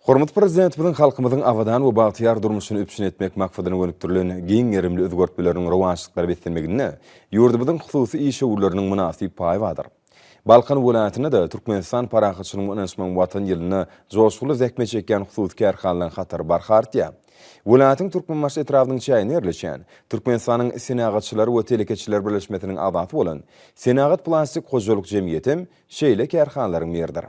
Hormatly Prezidentimiziň halkymyzyň abadan we bagtyýar durmuşyny üpjün etmek maksadyna gönükdirilen giň gerimli özgertmeleriniň rowaçlyklara beslenmeginde ýurdumyzyň hususy işewürleriniň mynasyp paýy bardyr. Balkan welaýatynda-da Türkmenistan parahatçylygyň we ynanyşmagyň Watan ýylynda joşgunly zähmet çekýän hususy kärhanalaryň hatary barha artýar. Welaýatyň Türkmenbaşy etrabynyň çäginde ýerleşýän, Türkmenistanyň Senagatçylar we telekeçiler birleşmesiniň agzasy bolan Senagat-plastik hojalyk jemgyýetem şeýle kärhanalaryň biridir.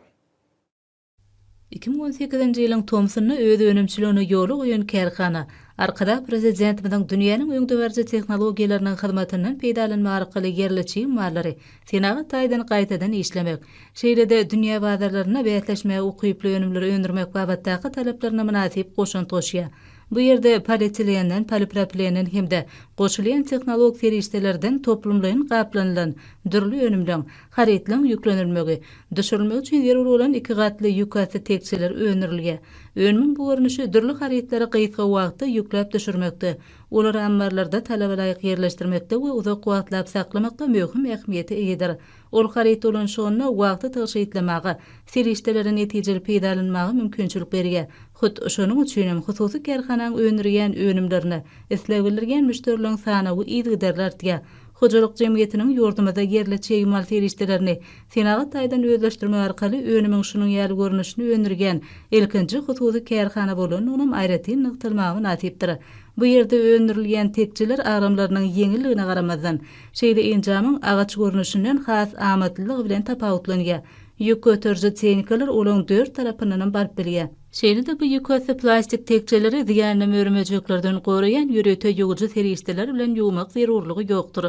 Iki müň on sekizinji ýylyň tomsunda öz önümçiligini ýola goýan kärhana Arkadag Prezidentimiziň dünýäniň öňdebaryjy tehnologiýalarynyň hyzmatyndan peýdalanmak arkaly ýerli çig mallary senagat taýdan gaýtadan işlemek, şeýle-de dünýä bazarlarynda bäsleşmäge ukyply önümleri öndürmek babatdaky talaplaryna mynasyp goşant goşýar. Bu ýerde polietilenden, polipropilenden hem-de goşulýan tehnologik serişdelerden toplumlaýyn gaplanylan dürli önümleň, Harytlaryň ýüklenilmegi, düşürilmegi üçin zerur bolan iki gatly ýükasty tekjeler öndürilýär. Önümiň bu görnüşi dürli harytlary gysga wagtda ýükläp düşürmekde, olary ammarlarda talabalaýyk ýerleşdirmekde we uzak wagtlap saklamakda möhüm ähmiýete eýedir. Ol haryt dolanyşygynda wagty tygşytlamaga, serişdeleri netijeli peýdalanmaga mümkinçilik berýär. Hut, şonuň üçin hem hususy kärhananyň öndürýän önümlerine isleg bildirýän müşderileriň sanawy yzygiderli artýar. Hojalyk jemgyýetiniň ýurdumyzda ýerli çig mal serişdelerini senagat taýdan özleşdirmek arkaly önümiň şunuň ýaly görnüşini öndürýän ilkinji hususy kärhana bolandygynam aýratyn nygtalmaga mynasypdyr. Bu ýerde öndürilýän tekjeler agramlarynyň ýeňilligine garamazdan, şeýle enjamyň agaç görnüşinden has amatlylygy bilen tapawutlanýar. Ýük göteriji tehnikalar olaň dört tarapyndanam baryp bilýär. Şeýle-de bu ýükasyz plastik tekjeleri ziýanly mör-möjeklerden goraýan ýörite ýuwujy serişdeler bilen ýuwmak zerurlygy ýokdur.